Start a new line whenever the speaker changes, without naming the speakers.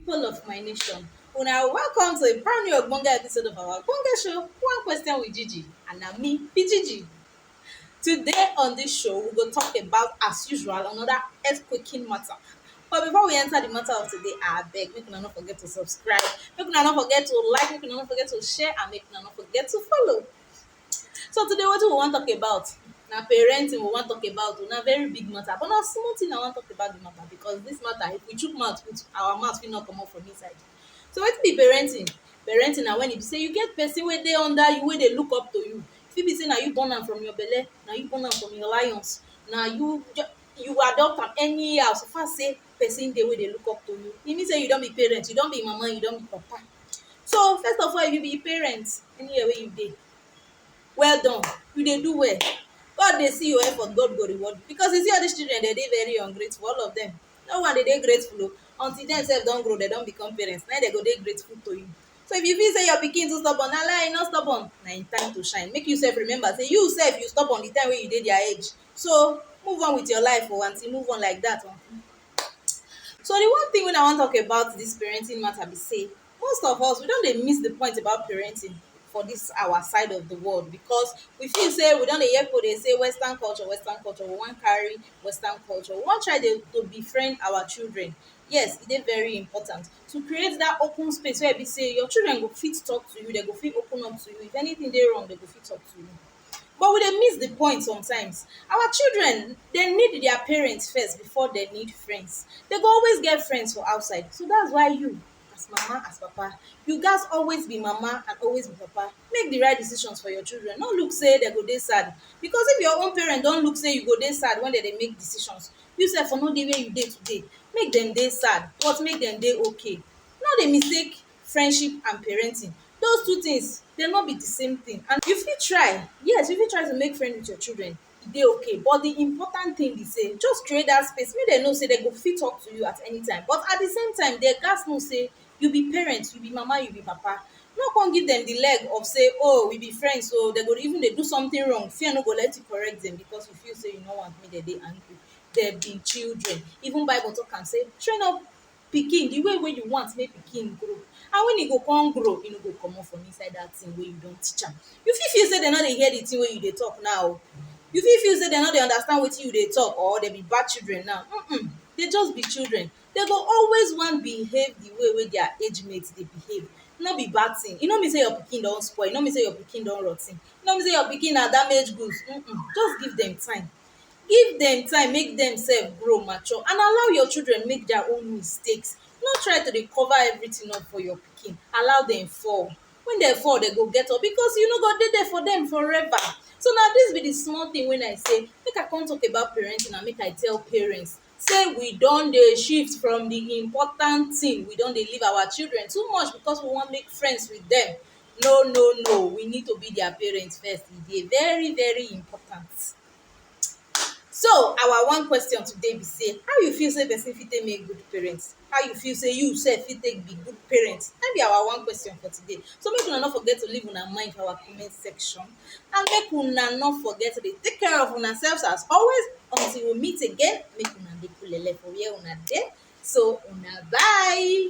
People of my nation, una welcome to a brand new ogbonge episode of our ogbonge show, One Question with Gigi, and na me be Gigi. Today on this show, we go talk about, as usual, another earthquaking matter. But before we enter the matter of today, I beg, make una no forget to subscribe, make una no forget to like, make una no forget to share, and make una no forget to follow. So today wetin we wan talk about na parenting we wan talk about oh, na very big matter but na small thing I wan talk about the matter because dis matter if we chook mouth put our mouth fit no comot from inside. So wetin be parenting? Parenting na when e be sey you get person wey dey under you wey dey look up to you, e fit be sey na you born am from your belle, na you born am from your lion's, na you you adopt am anyhow so far sey person dey wey dey look up to you, e mean sey you don be parent, you don be mama, you don be papa. So, first of all, if you be parent, anywhere wey you dey, well done, you dey do well. God dey see your effort, God go reward you because you see all dis children, de dey very ungrateful, all of dem. No one dey dey grateful o, until dem sef don grow, de don become parent, na im de go dey grateful to you. So, if you feel sey your pikin too stubborn, na lie, e no stubborn. Na im time to shine. Make you sef remember sey you sef, you stubborn the time wey you dey their age. So move on with your life oh aunty, move on like that oh. So the one thing wey I wan talk about this parenting matter be say most of us we don dey miss the point about parenting for this our side of the world because we feel say we don dey hear people dey say western culture, western culture, we wan carry western culture, we wan try dey to befriend our children. Yes, e dey very important to create that open space wey e be say your children go fit talk to you, dem go fit open up to you, if anything dey wrong dem go fit talk to you. but we dey miss the point sometimes our children they need their parents first before they need friends they go always get friends for outside so that's why you as mama as papa you gats always be mama and always be papa make the right decisions for your children no look say they go dey sad because if your own parent don look say you go dey sad when they dey make decisions you sef for no dey where you dey today make dem dey sad but make dem dey okay no dey mistake friendship and parenting those two things dem no be the same thing and you fit try yes you fit try to make friend with your children e dey okay but the important thing be sey just create that space make dem know sey dem go fit talk to you at anytime but at the same time dem gats know sey you be parent you be mama you be papa no come give dem the leg of sey oh we be friends oo dem go even dey do something wrong fear no go let you correct dem because you feel sey you no want make dem dey angry dem be children even bible talk am sey train up pikin di way wey you want mek pikin grow and wen e go kon grow e no go comot from inside dat tin wey you don teach am you fit feel sey dem no dey hear di tin wey you dey talk naw o you fit feel sey dem no dey understand wetin you dey talk or dem be bad children naw humm dey just be children dey go always wan behave di way wey dia age mate dey behave no be bad tin e no mean sey your pikin don spoil e no mean sey your pikin don roty e no mean sey your pikin na damage goods humm just give dem time give dem time make dem sef grow mature and allow your children make their own mistakes no try to dey cover everything up for your pikin allow dem fall when dem fall dem go get up because you no go dey there for dem forever so na this be the small thing wey i say make i come talk about parenting and make i tell parents sey we don dey shift from the important thing, we don dey leave our children too much because we wan make friends with dem. No no no, we need to be their parent first, e dey very very important. So, our one question today be sey, how you feel sey person fit take make good parent? How you feel sey you sef fit take be good parent? Na im be our one question for today. So make una no forget to leave una mind for our comment section. and make una no forget to dey take care of una selves as always until we meet again make una dey kulele for where una dey so una bye.